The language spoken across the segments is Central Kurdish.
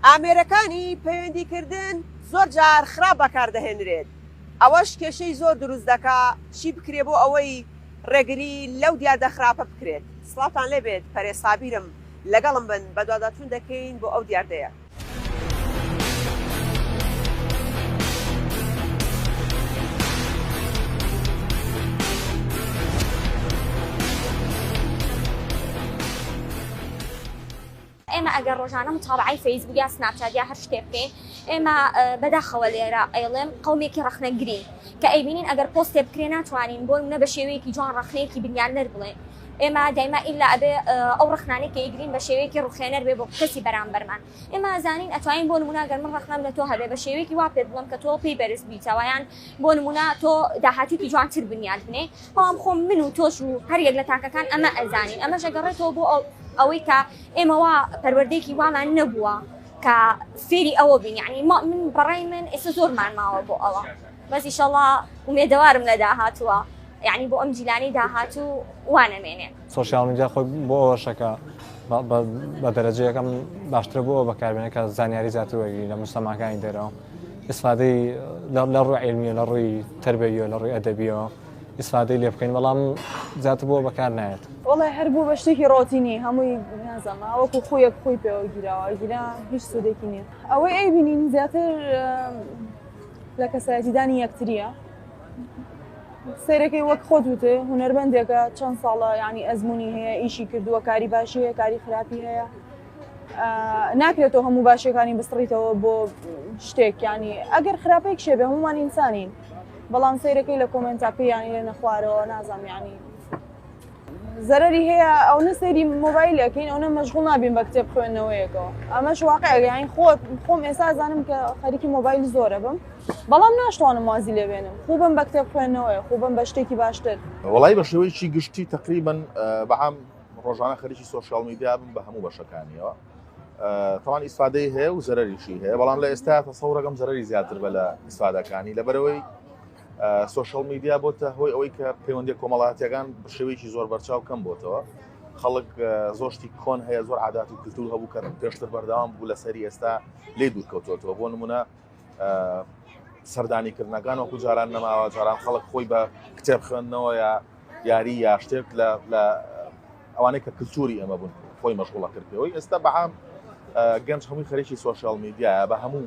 ئامێرەکانی پەیوەندیکردن زۆر جار خراپ بەکاردەهێنرێت ئەوەش کێشەی زۆر دروست دەکا چی بکرێ بۆ ئەوەی ڕێگری لەو دیاردە خراپە بکرێت سڵاتان لێبێت پەرێ سابیرم لەگەڵم بن بەدواداچون دەکەین بۆ ئەو دیاردەیە. ئێمە ئەگەر ڕۆژانە متابعی فەیسبوک یا سناپچات یا هەر شتێ بکەین ئێمە بەداخەوە لێرە ئەیڵێم قومێکی ڕخنەگرین کە ئەیبینین ئەگەر پۆستێ بکرێ ناتوانین بۆی منە بە شێوەیەکی جوان ڕخنەیەکی بنیان نەر بڵێن ئێمە دایما ئیلا ئەبێ ئەو ڕخنانەی کە ئیگرین بە شێوەیەکی ڕوخێنەر بێ بۆ کەسی بەرامبەرمان ئێمە زانین ئەتوانین بۆ نموناگەر من ڕخنام لە تۆ هەبێ بە شێوەیەکی وا پێت بڵم کە تۆ پێی بەرز بیتەوەیان بۆ نمونا تۆ داهاتوکی جوانتر بنیات بنێ بەڵام خۆم من و تۆش و هەریەک لە تاکەکان ئەمە ئەزانین ئەمە ژەگەڕێتەوە بۆ ئەو ئەوەی کە ئێمەوا پەروەردەیەکی وامان نەبووە کە فێری ئەوە بین یعنی ما من بەڕای من ئێستا زۆرمان ماوە بۆ ئەوە بەزیشەڵا ومێدەوارم لە داهاتوە. یەعنی بۆ ئەم جیلانەی داهاتوو وا نەمێنێ. سۆشیاڵ میدیا خۆی بۆ ئەوەشە کە بە دەرەجە یەکەم باشترە بۆ ئەوە بەکاربێنە کە زانیاری زیاتر وەرگری لە موسڵمانەکانی دێرەوە ئیسفادەی لە ڕووی عیلمیە لە ڕووی تربەیە لە ڕووی ئەدەبیەوە ئیسفادەی لێ بکەین بەڵام زیاتر بۆ بەکار نایێت وڵی هەربوو بە شتێکی ڕۆتینی هەمووی نازەمە وەکو خۆیەک خۆی پێوە گیراوە گیرا هیچ سوودێکی نییە ئەوەی ئەی بینین زیاتر لە کەسایەتیدانی یەکتریە سەیرەکەی وەک خۆت وتێ هوەربندێکە چەند ساڵە ینی ئەزمموی هەیە ئیشی کردووە کاری باشی هەیە کاری خراپی هەیە ناکرێتەوە هەموو باشەکانی بسڕیتەوە بۆ شتێکیانی ئەگەر خراپێک شێبێ هەمومان ئینسانین بەڵام سەیرەکەی لە کۆمنتاکەیانی لێ نەخوارەوە نازانیانی زەرەری هەیە ئەونە سەیری مۆبایل ئەەکەین ئەوە مەشغول نابین بە کتێب خوێندنەوەیەکەوە ئەمەش واقعگەیان خۆت خۆم ئێستا زانم کە خەریکی مۆبایل زۆرە بم بەڵام ناشتوانم وازی لێبێنم خوبم بە کتێب خوێندنەوەی خوبم بە شتێکی باشتر وڵی بە شێوەیەکی گشتی تقریبن بەعام ڕۆژانە خەریکی سوۆشال میدیا بم بە هەموو بەشەکانیەوە تاوان ئیسفادەی هەیە و زەرریشی هەیە بەڵام لە ئێستا تەسەڕەکەم زەرری زیاتر بە لە ئیسفادەکانی لەبەرەوەی سۆشیال میدیا بۆتە هۆی ئەوەی کە پەیوەندی کۆمەڵاتیەکان شێوەیەکی زۆر بەرچاو کەم بۆتەوە خەڵک زۆشتی کۆن هەیە زۆر عادات و کللتور هەبوو کە پێشتر بەردەوام بوو لەسەری ئێستا لێ دوورکەوتۆتەوە بۆ نمونە سەردانیکردنەکان وەکو جاران نەماوە جاران خەڵک خۆی بە کتێب خوێندنەوە یا یاری یا شتێک لە ئەوانەی کە کللتوری ئەمە بوون خۆی مەشغوڵە کردەوەی ئێستا بەعام گەنج هەمووی خەرێکی سوۆشال میدیایە بە هەموو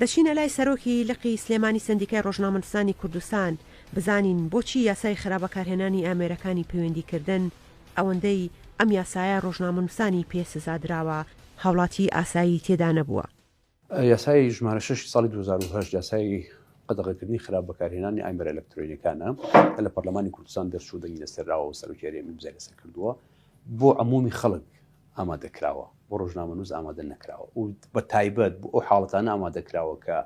دەچینە لای سەرۆکی لقی سلێمانی سەندیکای ڕۆژنامەنوسانی کوردستان بزانین بۆچی یاسای خرا بەکارهێنانی ئامێرەکانی پەیوەندی کردن ئەوەندەی ئەم یاسایە ڕۆژنامەنوسانی پێ سزا دراوە هاوڵاتی ئاسایی تێدا نەبووە. یاسای ژمارە شەش ی ساڵی دوو هەزار و هەشت یاسای قەدەغەکردنی خراپ بەکارهێنانی ئامێرە ئەلەکترۆنیەکانە کە لە پەرلەمانی کوردستان دەرچوو دەنگی لەسەر داوە و سەرۆکی هەرێمی ئیمزای لەسەر کردووە بۆ عمومی خەڵک ئامادە کراوە بۆ ڕۆژنامەنووس ئامادە نەکراوە و بە تایبەت بۆ ئەو حاڵەتانە ئامادە کراوە کە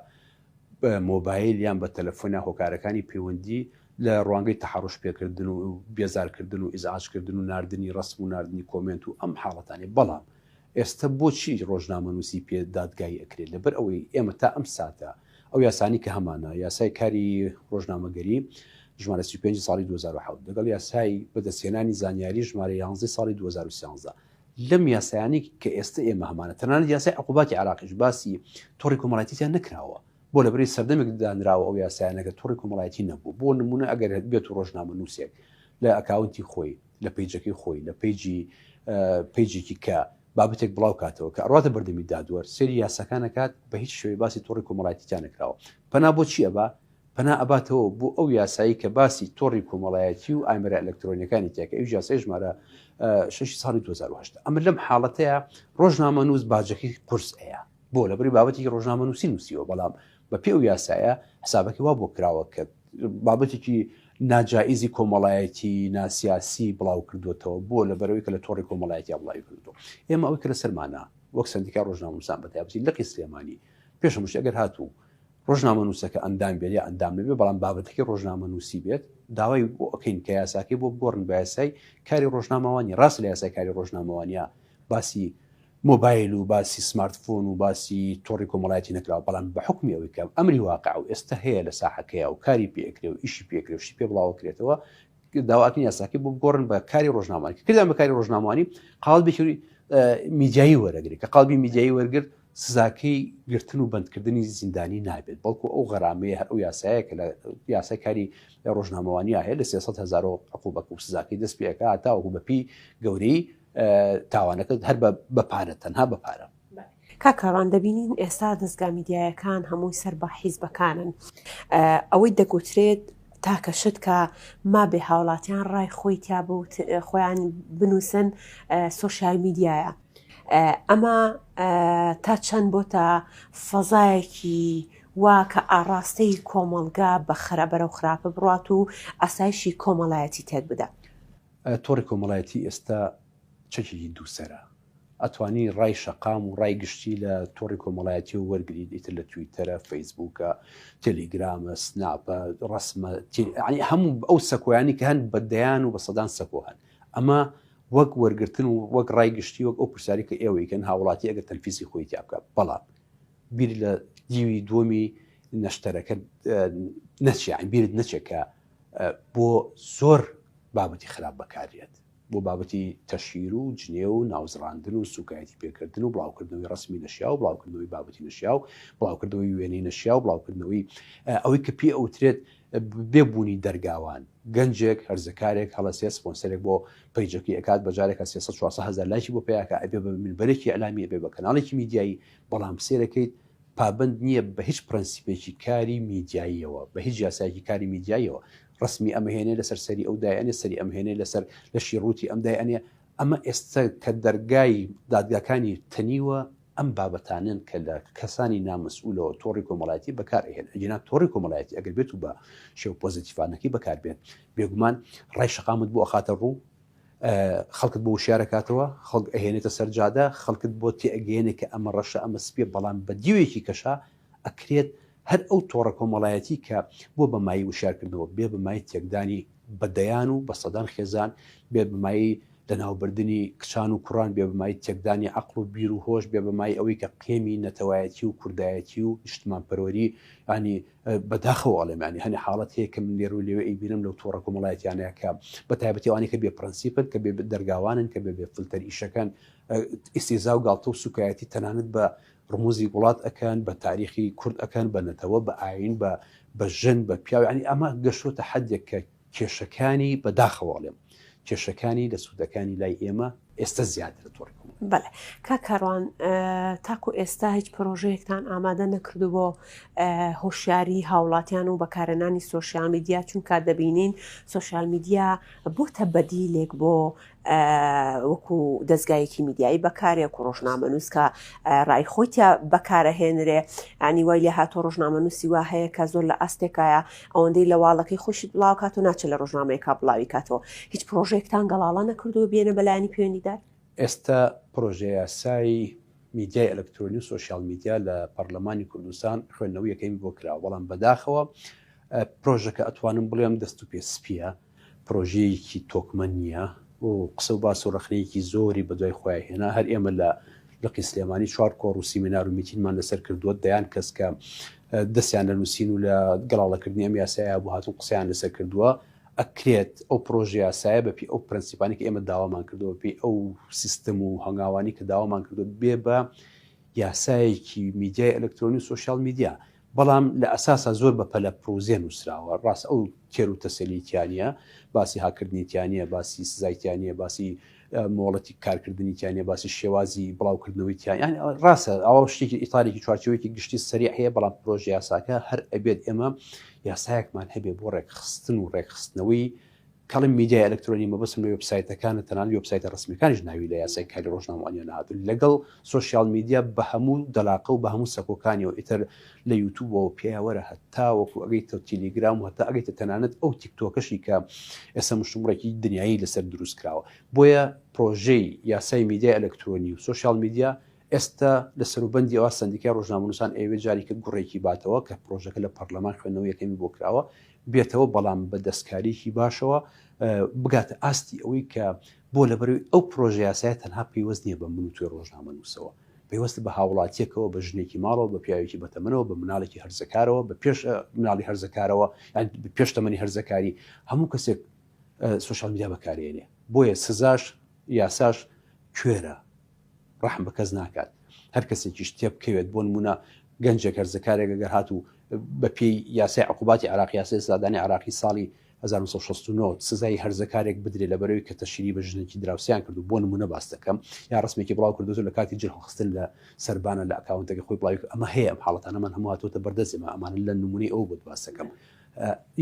بە مۆبایل یان بە تەلەفۆنە هۆکارەکانی پەیوەندی لە ڕوانگەی تەحڕش پێکردن و بێزارکردن و ئیزعاجکردن و نردنی ڕسم و نردنی کۆمنت و ئەم حاڵەتانی بەڵام ئێستا بۆچی ڕۆژنامەنووسی پێ دادگایی ئەکرێت لەبەر ئەوەی ئێمە تا ئەم ساتە ئەو یاسانەی کە هەمانە، یاسای کاری ڕۆژنامەگەری، ژمارە سی و پێنج ساڵی دوو هەزار و حەوت، لەگەڵ یاسای بەدەستهێنانی زانیاری، ژمارە یانزەی ساڵی دوو هەزار و سیانزە. لەم یاسایانەی کە ئێستە ئێمە هەمانە، تەنانەت یاسای عقوباتی عێراقیش باسی تۆڕی کۆمەڵایەتی تیا نەکراوە. بۆ لەبەرەی سەردەمێک دانراوە ئەو یاسایانە کە تۆڕی کۆمەڵایەتی نەبوو. بۆ نموونە ئەگەر بێتو ڕۆژنامەنووسێک لە ئەکاونتی خۆی، لە پەیجەکەی خۆی، لە پەیجی پەیجێکی کە، بابەتێک بڵاو کاتەوە کە ئەڕاتە بەردەمی دادوەر سەیری یاساکان ئەکات بە هیچ شێوەی باسی تۆڕی کۆمەڵایەتی تیا نەکراوە پەنا بۆ چی ئەبا پەنا ئەباتەوە بۆ ئەو یاسایی کە باسی تۆڕی کۆمەڵایەتی و ئامێرە ئەلەکترۆنیەکانی تیا کە ئەویش یاسای ژمارە شەشی ساڵی 2008 ئەمە لەم حاڵەتەیە ڕۆژنامە نووس باجەکەی قورس ئەیە بۆ لەبری بابەتی ڕۆژنامە نووسی نووسیوە بەڵام بە پێ و یاسایە حسابەکە وا بۆ کراوە کە بابەتێکی ناجائیزی کۆمەڵایەتی ناسیاسی بڵاو کردوێتەوە بۆ لە بەرەوەی کە لە تۆڕی کۆمەڵایەتی بڵاوی کردو ئێمە ئەوی کە لە سەرمانە وەک سندیکا ڕۆژناموسان بەتابەتی لەقی سلێمانی پێشمش ئەگەر هاتوو ڕۆژنامە نووسەکە ئەندام بێت یا ئەندام نەبێ بەڵام بابەتەکەی ڕۆژنامە نووسی بێت داوای بۆ ئەکەین کە یاساکەی بۆ بگۆڕن بە یاسای کاری ڕۆژنامەوانی ڕاست لە یاسای کاری ڕۆژنامەوانیا باسی مۆبایل و باسی سمارت فۆن و باسی تۆڕی کۆمەڵایەتی نەکراوە بەڵام بە حوکمی ئەوەی کە ئەمری واقع و ئێستا هەیە لە ساحەکەیا و کاری پێ ئەکرێ و ئیشی پێ ئەکرێ و شتی پێ بڵاوەکرێتەوە داوا ئەکەن یاساکەی بۆ بگۆڕن بە کاری ڕۆژنامانی کە کردیان بە کاری ڕۆژنامانی قاڵبێکی میدیایی وەرەگری کە قاڵبی میدیایی وەرگرت سزاکەی گرتن و بەندکردنی زیندانی نابێت بەڵکو ئەو غەرامەیە هەر ئەو یاسایە کە لە یاسای کاری ڕۆژنامەوانیا هەیە لە 300 هزار عقوبەکە و سزاکەی دەست پێکە تاوەکو بەپی گەورەی تاوانەکە هەر بە پارە تەنها بە پارە کاکاڕان دەبینین ئێستا دەستگا میدیایەکان هەمووی سەر بە حیزبەکانن ئەوەی دەگوترێت تاکە شت کە ما بێ هاوڵاتیان ڕای خۆی تیا بوت خۆیان بنووسن سوۆسیال میدیایە ئەمە تا چەند بۆ تا فەزایەکی وا کە ئاڕاستەی کۆمەلگا بە خراپەرە و خراپە بڕات و ئاسایشی کۆمەڵایەتی تێک بدە تۆڕی کۆمەڵایەتی ئێستا چەکێکی دوو سەرە، ئەتوانی ڕای شەقام و ڕای گشتی لە تۆڕی کۆمەڵایەتیەوە وەرگریت، ئیتر لە تویتەرە، فەیسبووکە، تێلیگرامە، سناپە، ڕەسمە، یانی هەموو ئەو سەکۆیانی کە هەن بە دەیان و بە سەدان سەکۆ هەن، ئەمە وەک وەرگرتن و وەک ڕای گشتی وەک ئەو پرسیارەی کە ئێوەی کەن هاوڵاتی ئەگەر تەنفیسی خۆی تیا بکات، بەڵام بیر لە دیوی دووەمی نەشتەرەکە نەچێ، یانی بیرت نەچێ کە بۆ زۆر بابەتی خراپ بەکاردێت، بۆ بابەتی تەشهیر و جنێو و ناوزڕاندن و سووکایەتی پێکردن و بڵاوکردنەوەی ڕەسمی نەشیاو، بڵاوکردنەوەی بابەتی نەشیاو، بڵاوکردنەوەی وێنەی نەشیاو، بڵاوکردنەوەی ئەوەی کە پێ ئەوترێت بێ بوونی دەرگاوان، گەنجێک، هەرزەکارێک هەڵەسێت سپۆنسەرێک بۆ پەیجەکەی ئەکات بە جارێکا سێ سەد چوار سەد هەزار لایکی بۆ پەیا کە ئەبێ بە مینبەرێکی ئیعلامی، ئەبێ بە کەناڵێکی میدیایی، بەڵام سەیرەکەیت پابەند نییە بە هیچ پرەنسیپێکی کاری میدیاییەوە، بە هیچ یاسایەکی کاری میدیاییەوە، ڕەسمی ئەم هێنێ لەسەر سەری ئەو دایئەنێ، سەری ئەم هێنێ لەسەر لەشی ڕووتی ئەم دایئەنێ، ئەمە ئێستە کە دەرگای دادگاکانی تەنیوە ئەم بابەتانەن کە لە کەسانی نامەسئولەوە تۆڕی کۆمەڵایەتی بەکار ئەهێن، ئەگینا تۆڕی کۆمەڵایەتی ئەگەر بێتو بە شێوە پۆزەتیفانەکەی بەکار بێت بێگومان ڕای شەقامت بۆ ئەخاتە ڕوو، خەڵکت بۆ وشیارەکاتەوە، خەڵک ئەهێنێتە سەر جادە، خەڵکت بۆ تێئەگەیەنێ کە ئەمە ڕەشە ئەمە سپیە بەڵام بە دیوێکی کەشا ئەکرێت هەر ئەو تۆڕە کۆمەڵایەتی کە بوە بە مایەی وشیارکردنەوە بێ بە مایەی تێکدانی بە دەیان و بە سەدان خێزان بێ بە مایەی لەناوبردنی کچان و کوڕان بێ بە مایەی تێکدانی عەقڵ و بیر و هۆش بێ بە مایەی ئەوەی کە قێمی نەتەوایەتی و کوردایەتی و نیشتمانپەروەری یانی بە داخەوە ئەڵێم یانی هەنێ حاڵەت هەیە کە من لێرو لێوێ ئەیبینم لەو تۆڕە کۆمەڵایەتیانەیە کە بە تایبەتی ئەوانەی کە بێ پرەنسیپن کە بێ دەرگاوانن کە بێ بێ فلتەر ئیشەکان ئیسیزا و گاڵتە و سوکایەتی تەنانەت بە ڕموزی وڵات ئەکەن بە تاریخی کورد ئەکەن بە نەتەوە بە ئاین بە بە ژن بە پیاوانی ئەمە گەشتۆتە حدێک کە کێشەکانی بە داخەوە ئەڵێم کێشەکانی لە سوودەکانی لای ئێمە ئێستە زیاترە تۆڕی کۆمەڵ. بەڵێ کاک کاروان تاکو ئێستا هیچ پرۆژەیەکتان ئامادە نەکردو بۆ هۆشیاری هاوڵاتیان و بەکارێنانی سۆشیال میدیا چونکە دەبینین سۆشیال میدیا بۆتە بەدیلێک بۆ وەکو دەزگایەکی میدیایی بەکارێ و ڕۆژنامەنووس کە ڕای خۆی تیا بەکارەهێنرێ ئەنی وای لێ هاتۆ ڕۆژنامەنووسی وا هەیە کە زۆر لە ئاستێکایە ئەوەندەی لە واڵەکەی خۆشی بڵاوکات و ناچە لە ڕۆژنامەیەکە بڵاوی کاتەوە هیچ پرۆژێکتان گەڵاڵە نەکردووە بێنە بەلایانی پەیوەندیدار ئێستا پرۆژەیاسای میدیای ئەلکترۆنی و سۆشیال میدیا لە پەرلەمانی کوردستان خوێندنەوەی یەکەمی بۆ کراوە بەڵام بەداخەوە پرۆژەکە ئەتوانم بڵێم دەست و پێ سپیە پرۆژەیەکی تۆکمە نییە و قسە و باس و ڕەخنەیەکی زۆری بە دوای خۆیا هێنا، هەر ئێمە لە لقی سلێمانی چوار کۆڕ و سیمینار و میتینمان لەسەر کردووە، دەیان کەس کە دەستیان لە نووسین و لە گەڵاڵەکردنی ئەم یاسایە هەبوو هاتوون قسەیان لەسەر کردووە، ئەکرێت ئەو پرۆژە یاسایە بە پێی ئەو پرەنسیپانەی کە ئێمە داوامان کردووە، بە پێی ئەو سیستم و هەنگاوانەی کە داوامان کردووە بێ بە یاسایەکی میدیای ئەلەکترۆنی و سۆشیال میدیا، بەڵام لە ئەساسا زۆر بە پەلە پڕوزێ نووسراوە، ڕاست ئەو تێر و تەسەلی تیا نییە، باسی هاککردنی تیا نییە، باسی سزای تیا نییە، باسی مۆڵەتی کارکردنی تیا نییە، باسی شێوازی بڵاوکردنەوەی تیا یان ڕاستە ئەوە شتێکی ئیتارێکی چوارچێوەیەکی گشتی سەریع هەیە، بەڵام پرۆژە یاساکە هەر ئەبێت ئێمە یاسایەکمان هەبێ بۆ ڕێکخستن و ڕێکخستنەوەی کەڵێم میدیای ئەلکترۆنی مەبەستم لە وێبسایتەکانە تەنانەت وێبسایتە ڕەسمیەکانیش ناوی لە یاسای کاری ڕۆژنامەوانیان نەهاتوو لەگەڵ سۆشیاڵ میدیا بە هەموو دەلاقە و بە هەموو سەکۆکانیەوە ئیتر لە یوتوبەوە پێیە وەرە هەتاوەکو ئەگەیتە تیلیگرام و هەتا ئەگەیتە تەنانەت ئەو تیکتۆکەشی کە ئێستا مشتومڕێکی دنیایی لەسەر دروست کراوە بۆیە پڕۆژەی یاسای میدیای ئەلکترۆنی و سۆشیاڵ میدیا ئێستا لە سەروبەندی ئەوە سەندیکای ڕۆژنامەنووسان ئەیەوێت جاریکە گوڕێکی باتەوە کە پڕۆژەکە لە پەڕلەمان خوێندنەوەی یەکەمی بۆ کراوە بێتەوە بەڵام بە دەستکاریکی باشەوە بگاتە ئاستی ئەوەی کە بۆ لەبەروی ئەو پرۆژە یاسایە تەنها پەیوەست نییە بە من و توێ ڕۆژنامە نووسەوە پەیوەست بە هاوڵاتیەکەوە بە ژنێکی ماڵەوە بە پیاوێکی بەتەمەنەوە بە مناڵێکی هەرزەکارەوە بە پێش مناڵی هەرزەکارەوە یان پێش تەمەنی هەرزەکاری هەموو کەسێک سوشال میدیا بەکارێنێ بۆیە سزاش یاساش کوێرە ڕەحم بە کەس ناکات هەر کەسێکیش تێبکەوێت بۆ نمونە گەنجێک هەرزەکارێک گەر هات و بە پێی یاسای عقوباتی عراقی یاسی سادانی عراقی ساڵی 1969 سزای هەرزەکارێک بدرێت لە بەرەوەی کە تەشیری بە ژنێکی دراوسیان کرد و بۆ نمونە باس دەکەم یا ڕسمێکی بڵاو کردو لە کاتی جلخستن لە سربانە لە ئەکاونتەکە خۆی بڵاوی ئەمە هەیە ئەم حاڵەتانەمان هەموو هاتوتە بەردەستێمە ئەمان لە نمونەی ئەو بۆت باسەکەم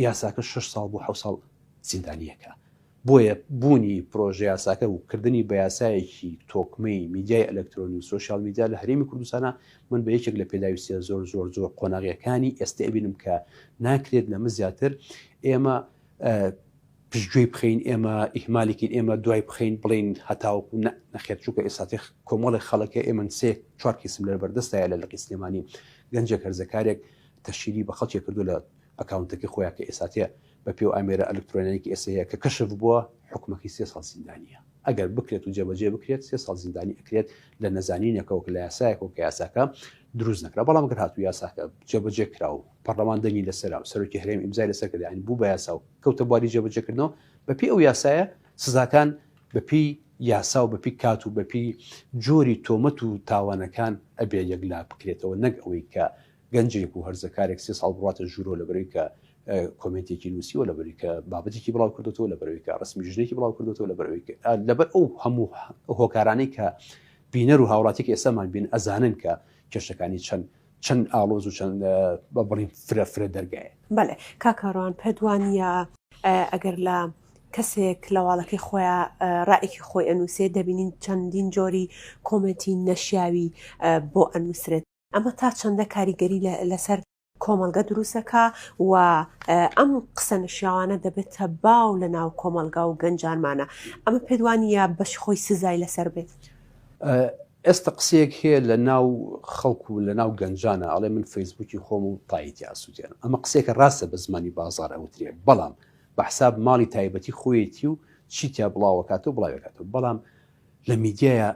یاساکە 6 ساڵ بۆ حو ساڵ زیندانیەکە بۆیە بوونی پرۆژەیاساکە و کردنی بە یاسایەکی تۆکمەی میدیای ئەلەکترۆنی و سۆشیال میدیا لە هەرێمی کوردستانە، من بە یەکێک لە پێداویستییە زۆر زۆر زۆر قۆناغییەکانی ئێستە ئەبینم کە ناکرێت لەمە زیاتر ئێمە پشتگوێی بخەین، ئێمە ئیهمالی کەین، ئێمە دوای بخەین بڵێین هەتاوەکو نە، نەخێر چونکە ئێستاتێ کۆمەڵێک خەڵک هەیە، ئێمن سێ چوار کەیسم لەر بەردەستایە لە لقی سلێمانی، گەنجێک هەرزەکارێک تەشیری بە خەڵکێک کردووە لە ئەکاونتەکەی خۆیان کە ئێستاتێ بە پێو ئامێرە ئەلکترۆنیکی ئێستا هەیە کە کەشف بووە حکومەکەی سێ ساڵ زیندانیە ئەگەر بکرێت و جێبەجێ بکرێت سێ ساڵ زیندانی ئەکرێت لە نەزانینێکەوە کە لە یاسایەکەوە کە یاساکە دروست نەکرا بەڵام گەر هاتو یاساکە جێبەجێ کرا و پەرلەمان دەنگی لەسەر و سەرۆکی هەرێم ئیمزای لەسەر کردیان یعنی بوو بە یاسا و کەوتە بواری جێبەجێکردنەوە بەپی ئەو یاسایە سزاکان بەپی یاسا و بەپی کات و بەپی جۆری تۆمەت و تاوانەکان ئەبێ یەکلا بکرێتەوە نەک ئەوەی کە گەنجێک و هەرزەکارێک سێ ساڵ بڕاتە ژوورۆ لەبەرەوەی کە کۆمێنتێکی نووسیوە لەبەری کە بابەتێکی بڵاو کردوەوە لەبەرەوەی کە ڕسمی ژنێکی بڵاو کردوەوە لەبەرەوەی لەبەر ئەو هەموو هۆکارانەی کە بینەر و هاوڵاتێکی ئێسامان بین ئەزانن کە کێشەکانی چەند چەند ئالۆز و چەند بە بڵین فرە فرە دەرگایە بەێ کاکەڕوان پێدوانە ئەگەر لە کەسێک لەواڵەکەی خۆیان ڕائێکی خۆی ئەنووسێ دەبینین چەندین جۆری کۆمەتی نەشیاوی بۆ ئەنووسرێت ئەمە تا چەندە کاریگەری لەسەر کۆمەڵگە دروست دەکا و ئەم قسە نەشیاوانە دەبێتە باو لە ناو کۆمەلگا و گەنجانمانە ئەمە پێدوانە بەش خۆی سزای لەسەر بێت. ئێستا قسەیەک هەیە لە ناو خەڵکو و لە ناو گەنجانە ئەڵێ من فەیسبوکی خۆم و تایتی ئاسوودێنم ئەمە قسێکە ڕاستە بە زمانی بازار ئەوترێ بەڵام بە حساب ماڵی تایبەتی خۆیەتی و چیتیا بڵاوەکات و بڵاوێکات و بەڵام لە میدیایە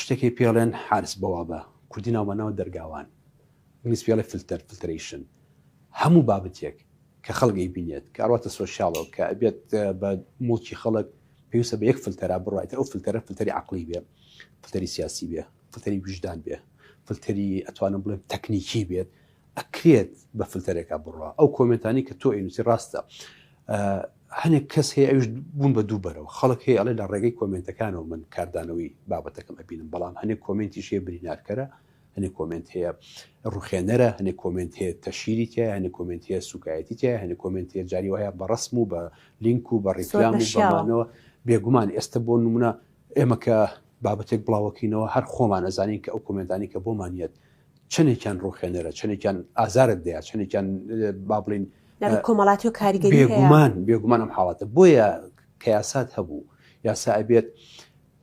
شتێکی پێڵێن حارس بەوابە کوردی ناومانەوە دەرگاوان ئینگلیز پێی ئەڵێ فلتەر، Filtration، هەموو بابەتێک کە خەڵک ئەیبینێت کە ئەڕواتە سۆشیاڵەوە کە ئەبێت بە موڵکی خەڵک پێویستە بە یەک فلتەرا بڕوا ئیتر ئەو فلتەرە فلتەری عەقڵی بێ فلتەری سیاسی بێ فلتەری ویژدان بێ فلتەری ئەتوانم بڵێم تەکنیکی بێت ئەکرێت بە فلتەرێکا بڕوا ئەو کۆمنتانی کە تۆ ئینوسی ڕاستە هەنێک کەس هەیە ئەوش بوون بە دوو بەرەوە خەڵک هەیە ئەڵێ لە ڕێگەی کۆمنتەکانەوە من کاردانەوەی بابەتەکەم ئەبینم بەڵام هەنێک کۆمنتی شێ برینارکەرە هەنێ کۆمێنت هەیە ڕوخێنەرە هەنێ کۆمێنت هەیە تەشیری تایە هەنێ کۆمێنت هەیە سوکایەتی تایە هەنێ کۆمێنت هەیە جاری وایە بە ڕسم و بە لینک و بە ڕیکلام و بەمانەوە بێگومان ئێستا بۆ نمونە ئێمە کە بابەتێک بڵاوەکەینەوە هەر خۆمان ئەزانین کە ئەو کۆمێنتانی کە بۆمان یەت چەندێکیان ڕوخێنەرە چەندێکیان ئازارت دەیە چەندێکیان با بڵین کۆمەڵاتی و کاریگەری بێگومان بێگومانم حاڵاتە بۆیە کە یاسات هەبوو یاسا ئەبێت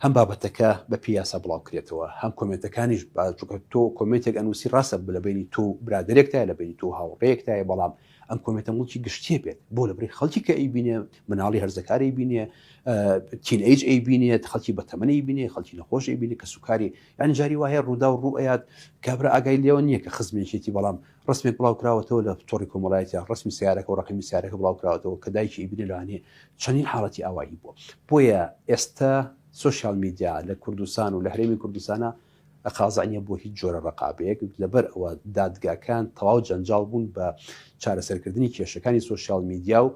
هەم بابەتەکە بە پێی یاسا بڵاو کرێتەوە هەم کۆمێنتەکانیش با چونکە تۆ کۆمێنتێک ئەنووسی ڕاستە لە بەینی تۆ و برادەرێکتایە لە بەینی تۆ و هاوڕێیەکتایە بەڵام ئەم کۆمێنتە موڵکی گشتیە بێت بۆ لە بری خەڵکی کە ئەیبینێ مناڵی هەرزەکار ئەیبینێ تین ئەیج ئەیبینێت خەڵکی بەتەمەن ئەیبینێ خەڵکی نەخۆش ئەیبینێ کە سوکاری یان جاری وایە ڕوودا و ڕوئەیات کابرا ئاگای لێوە نییە کە خزمێکێتی بەڵام ڕەسمێک بڵاوکراوەتەوە لە تۆڕی کۆمەڵایەتیا ڕەسمی سیارەکە و ڕەقەمی سیارەکە بڵاوکراوەتەوە کە دایکی ئیبنە لەوانەیە چەندین حاڵەتی ئاوایی بووە بۆیە ئێستا سۆشیال میدیا لە کوردستان و لە هەرێمی کوردستانە قازع نیە بۆ هیچ جۆرە ڕقابەیەک لەبەر ئەوە دادگاکان تەواو جەنجاڵ بوون بە چارەسەرکردنی کێشەکانی سوۆسیال میدیا و